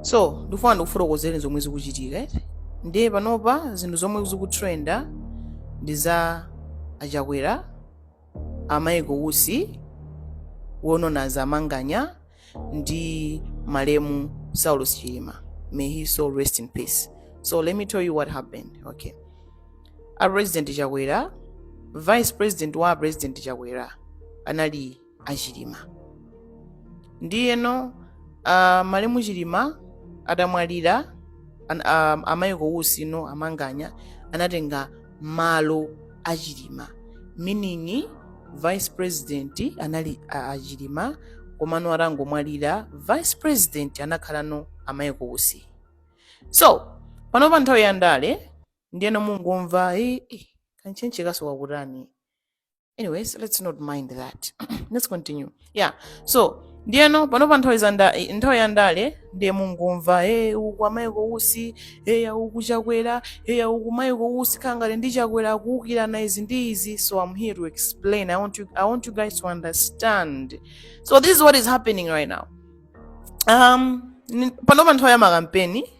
so ndikufuna ndikufotokozereni zomwe zikuchitika eti ndiye panopa zinthu zomwe zikutrenda ndi za achakwera a Michael Usi or known as a Manganya ndi malemu saulos chilima may his soul rest in peace so let me tell you what happened okay a president chakwera vice president wa president chakwera anali a chilima ndiyeno uh, malemu chilima atamwalira an, um, a Michael Usi no a Manganya anatenga malo a chilima meaning vice president anali a, a chilima komano atangomwalira vice president anakhalano a Michael Usi so panopa nthawi ya ndale ndiyeno mukungomva "Eh, eh, kantchentche kanso kakutani anyways let's not mind that let's continue yeah so ndiyeno panopa nthawi za nda- eh, nthawi ya ndale ndiye mukungomva e uku a Michael Usi e uku a chakwera e uku Michael Usi kaya ngati ndi chakwera akuukirana izi ndi izi so i'm here to explain i want you, I want you guys to understand so this is what is happening right now um ni- panopa nthawi ya makampeni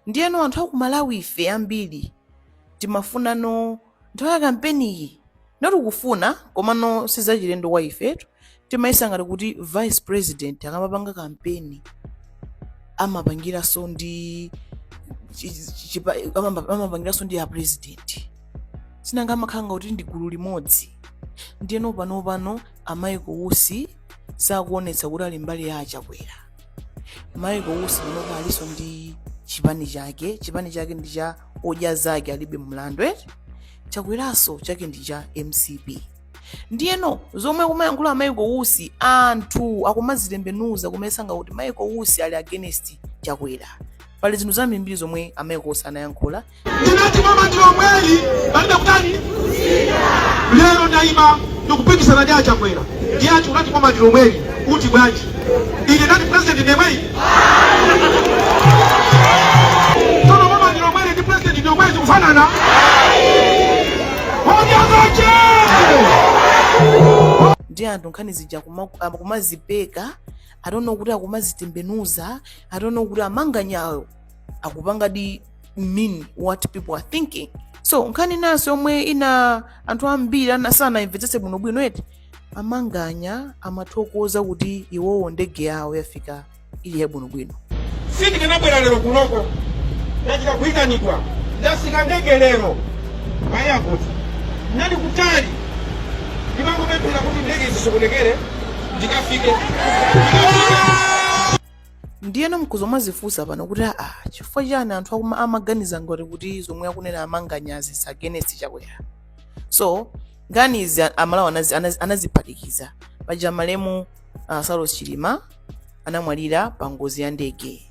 Ndiyeno anthu a ku Malawife ambiri timafunano nthawi ya kampeniyi not kufuna komano si zachilendo kwa ife eti timayesa ngati kuti vice president akamapanga kampeni amapangiranso ndi chi- chi- chipa- amamba- amapangiranso ndi a president si nanga amakhala ngati kuti ndi gulu limodzi ndiyeno panopano a Michael Usi sakuonetsa kuti ali mbali ya a Chakwera Michael Usi panopa alinso ndi chipani chake chipani chake ndi cha odya zake alibe mlandu eti chakweranso chake ndi cha mcp ndiyeno zomwe akumayankhula a Michael Usi anthu akumazitembenuza kumayesa ngati kuti Michael Usi ali against chakwera pali zinthu zambirimbiri zomwe a Michael Usi anayankhula Ndinati boma ndi lomweli palibe kutani lero ndaima ndikupikisana ndi achakwera ndiye ati unati boma ndi lomweli uti bwanji ine ndati president ndi yemweyi tsono boma ndi lomweli ndi president ndi yemweyi zikufanana onyazache ndi anthu nkhani zija kuma- ah, kumazipeka eti or no kuti akumazitembenuza eti or no kuti amanganyayo akupangadi mean what people are thinking so nkhani inanso yomwe ina anthu ambiri ana- sanayimvetsetse bwinobwino eti amanganya amathokoza kuti iwowo ndege yawo yafika ili yabwinobwino sindikanabwera lero kunoko ndachita kuyitanidwa ndatsika ndege lero payakuti ndinali kutali ndimangopemphera kuti ndege isasokonekere ndikafike ndiyeno nkuzomazifunsa pano kuti aa chifukwa chani anthu akuma amaganiza ngati kuti zomwe akunena amanganyazi is against chakwera so nkhani izi a- amalawi anazi- anazi- anaziphatikiza paja malemu uh, saulos chilima anamwalira pa ngozi ya ndege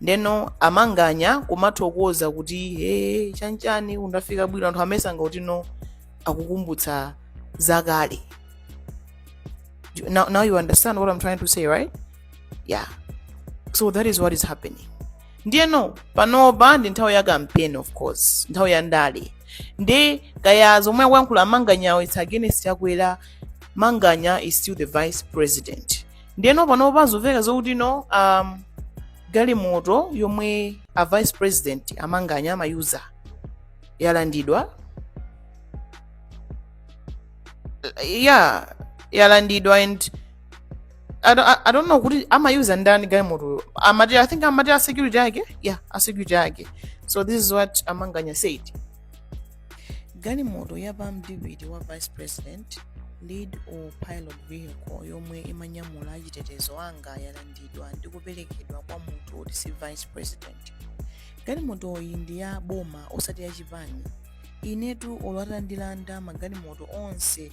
ndeno amanganya kumathokoza kuti he chanchani kundafika bwino anthu amayesa ngati no akukumbutsa zakale now, now you understand what i'm trying to say right yeah so that is what is happening ndiyeno panopa ndi nthawi ya campaign of course nthawi ya ndale ndi kaya zomwe akuyankhula amanganyawo its against chakwera manganya is still the vice president ndiyeno panopa zomveka nzokuti no um, galimoto yomwe a vice president amanganya amayuza yalandidwa yeah yalandidwa and I don't, I, I don't know kuti amayuza ndani galimotoyo amati i think amati a security ake yeah a security ake so this is what amanganya said galimoto ya pa mdipiti wa vice president lead or pilot vehicle yomwe imanyamula achitetezo anga yalandidwa ndi kuperekedwa kwa munthu oti si vice president galimotoyi ndi ya boma osati ya chipani inetu olo atandilanda magalimoto onse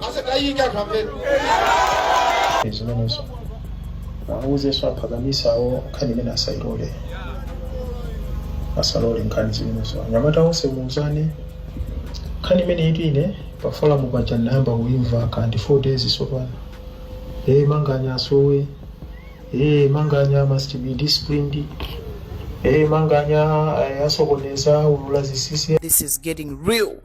asatayika anthu amve zimenezo auzenso aphakamisawo nkhani imene asailole asalole nkhani zimenezo anyamata onse muuzane nkhani imeneyi eti ine pafolamu paja ndinayamba kuimva kaya ndi 4 days tsopano ee manganya asowe ee manganya must be disciplined ee manganya eh, asokoneza ulula zisisi This is getting real.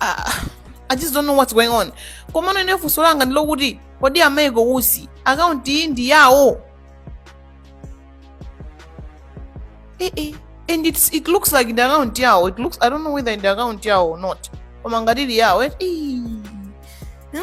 ah, i just don't know what's going on komano ine funso langa ndilokuti kodi a michael usi akaunti iyi ndi yawo eh, eh. and it's, it looks like ndi akaunti yawo it looks i don't know whether ndi akaunti yawo or not koma ngati ili yawo eh, eh.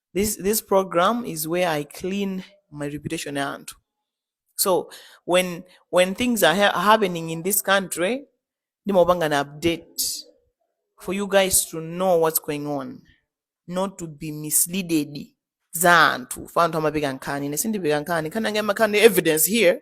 this this program is where i clean my reputation ya anthu so when when things are ha- happening in this country ndimapanga an update for you guys to know what's going on not to be misleaded za anthu chifukwa anthu amapeka nkhani ine sindipeka nkhani nkhani yanga imakhala ndi evidence here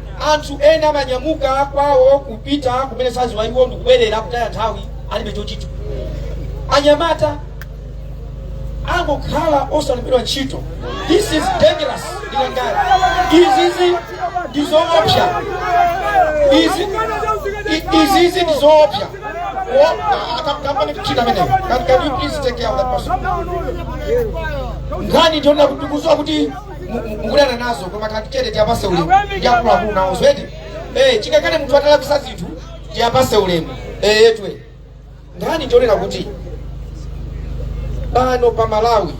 Anthu ena amanyamuka kwawo kupita kumene sakudziwa iwo ndikubwerera kutaya nthawi alibe chochita. Anyamata angokhala osalembedwa ntchito. This is dangerous ndikuuzani. Izizi ndi zoopsa. Izi i- izizi ndi zoopsa. Wo- akampani kuchita ameneyo. Can can you please take care of that person? Nkhani ndiona kuti kusowa kuti mukuleyana nazo koma khalani chete tiyapase ulemu ndiakuluakulu nawo zoti eh, chingakhale munthu atalakwisa zinthu tiyapase ulemu eh, yetwe nkhani tionera kuti pano pa malawi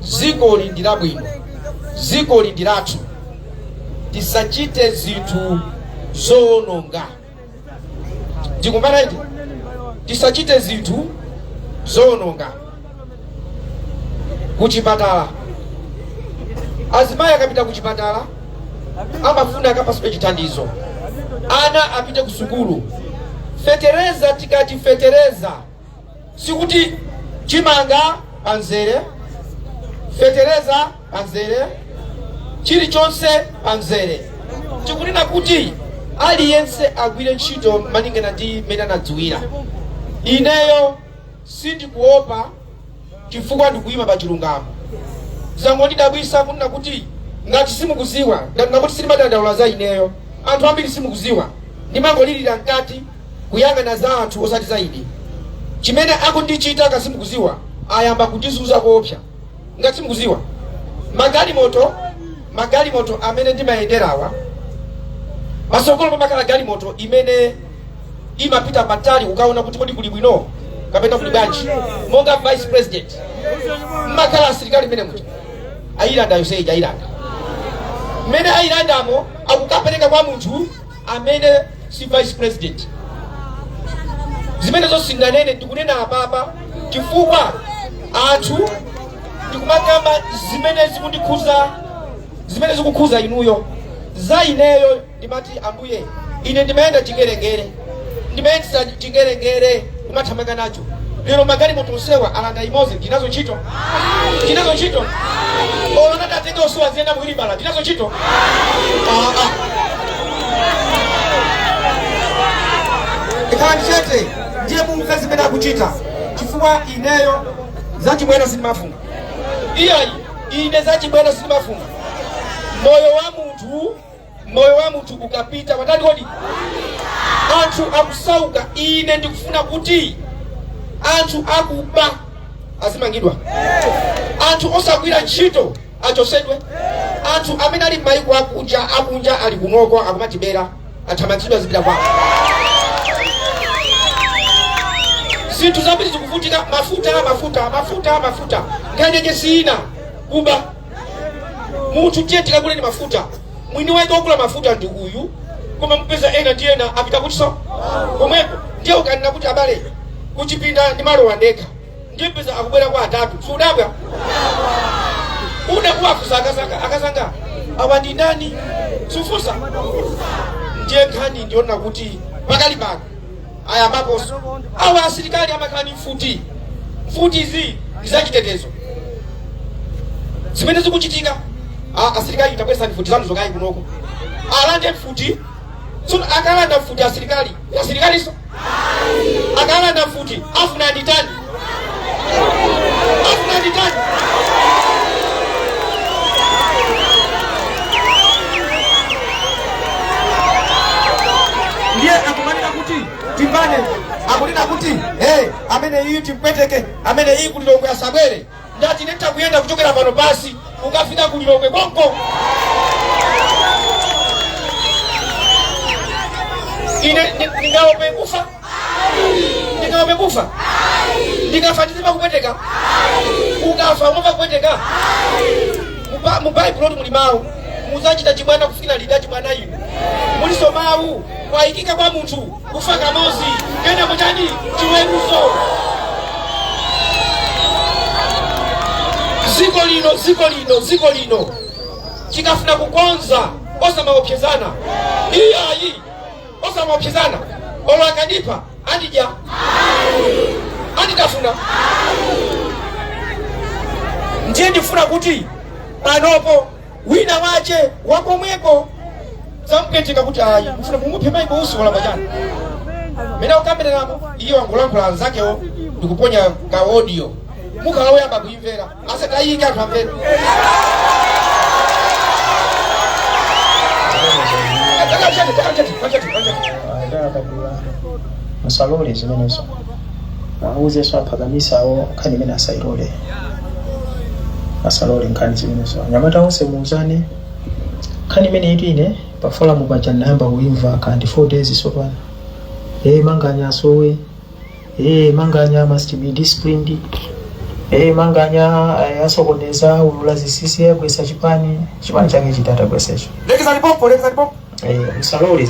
dziko ili ndi labwino dziko ili ndi lathu tisachite zinthu zowononga ndikumanaiti tisachite zinthu zoononga kuchipatala azimayi akapita kuchipatala amafuna akapasidwe chithandizo ana apite kusukulu fetereza tikati fetereza sikuti chimanga pa mzere fetereza pa mzere chilichonse pa mzere tikunena kuti aliyense agwire ntchito malingana ndi mmene anadziwira ineyo sindikuopa chifukwa ndikuyima pa chilungamo. Zangondidabwisa kunena kuti ngati simukuziwa ndanena kuti sindimadandaula za ineyo anthu ambiri simukuziwa ndimangolilira mkati kuyang'ana za anthu osati za ine chimene akundichita ngati simukuziwa ayamba kundizuza koopsa ngati simukuziwa magalimoto magalimoto amene ndimayenderawa patsogolo pamakhala galimoto imene imapita patali kukaona kuti kodi kuli bwino kapena kuli bwanji monga vice president mmakhala asilikali mmene muja ayilanda yonse ija ayilanda mmene ayilandamo akukapereka kwa munthu amene si vice president zimenezo sindinganene ndikunena apapa chifukwa anthu ndikumakamba zimene zikundikhuza zimene zikukhuza inuyo za ineyo ndimati, Ambuye, ine ndimayenda chingerengere, ndimayendetsa chingerengere, kumathamanga nacho. Lero magalimoto onsewa alanda imodzi, ndinazo ntchito, ndinazo ntchito. Olo atatenga onsewa ndiziyenda muwiri bala, ndinazo ntchito. Ah, ah. khalani chete ndiye mumve zimene akuchita chifukwa ineyo zachibwera sindimafunga iyayi ine zachibwana sindimafuna moyo wa munthu moyo wa munthu ukapita watani kodi anthu akusauka ine ndikufuna kuti anthu akuba azimangidwa anthu osagwira ntchito achosedwe anthu amene ali m'mayiko akunja akunja ali kunoko akumatibera athamangitsidwe azipita kwawo zinthu zambiri zikuvutika mafuta mafuta mafuta mafuta nkhani yake si ina kuba munthu tiye tikagule ni mafuta mwini wake wogula mafuta ndi uyu koma mupeza ena ndi ena apita kutinso komweko ndiye ukanena kuti abale kuchipinda ndi malo awanthu ndiye upeza akubwera kwa atatu sudabwa une kuwafunsa akazanga akazanga awa ndi ndani sufunsa ndiye nkhani ndiona kuti pakali pano ayambaponso awa asilikali amakhala ndi mfuti mfutizi ndi zachitetezo zimene zikuchitika a- asilikali tabweretsani mfuti zanu zokhazi kunoko alande mfuti tsono akalanda mfuti asilikali asirikalinso akalanda mfuti afuna nditani Afuna nditani? ndiye akumanena kuti timphane akunena kuti hey, amene iyi timpweteke amene iyi ku Lilongwe asabwere ndati ine nditha kuyenda kuchokera pano basi kukafika ku lilongwe konko ine ndi- ndingaope kufa ndingaope kufa ndikafa ndizimva kupweteka ukafa umava kupweteka Muba- mu baibulo muli mawu mudzachita chibwana kufikira liti chibwana inu mulinso mawu kwayikika kwa munthu kufa kamodzi kenako chani chiweruzo dziko lino dziko lino dziko lino tikafuna kukonza osamaopsezana iyayi osamaopsezana olo akandipha andidya anditafuna ndiye ndifuna kuti panopo wina wache wakomweko mumupweteke kuti ayi mfuna mumuphe maiko usi wala pachani mmene mukambiranamo iye wangolankhula anzakewo ndikuponya ka audio mukhala woyamba kuimvera asanaike anthu amvere Chati, chati, chati, chati, chati. Ayi, ndakakabira. Musalole zimenezo. Awuzenso aphakamisa awo nkhani imeneyi asailole. Asalole nkhani zimenezo. Anyamata onse muuzane. Nkhani imeneyi ine pa forum paja ndinayamba kuimva kaya ndi 4 days sopano. Eh manganya asowe. Eh manganya must be disciplined. Eh manganya eh, asokoneza ulula zisisi agwetsa chipani. Chipani chake chiti atagwetsecho. Lekizani pompo, lekizani pompo. Eh usalole.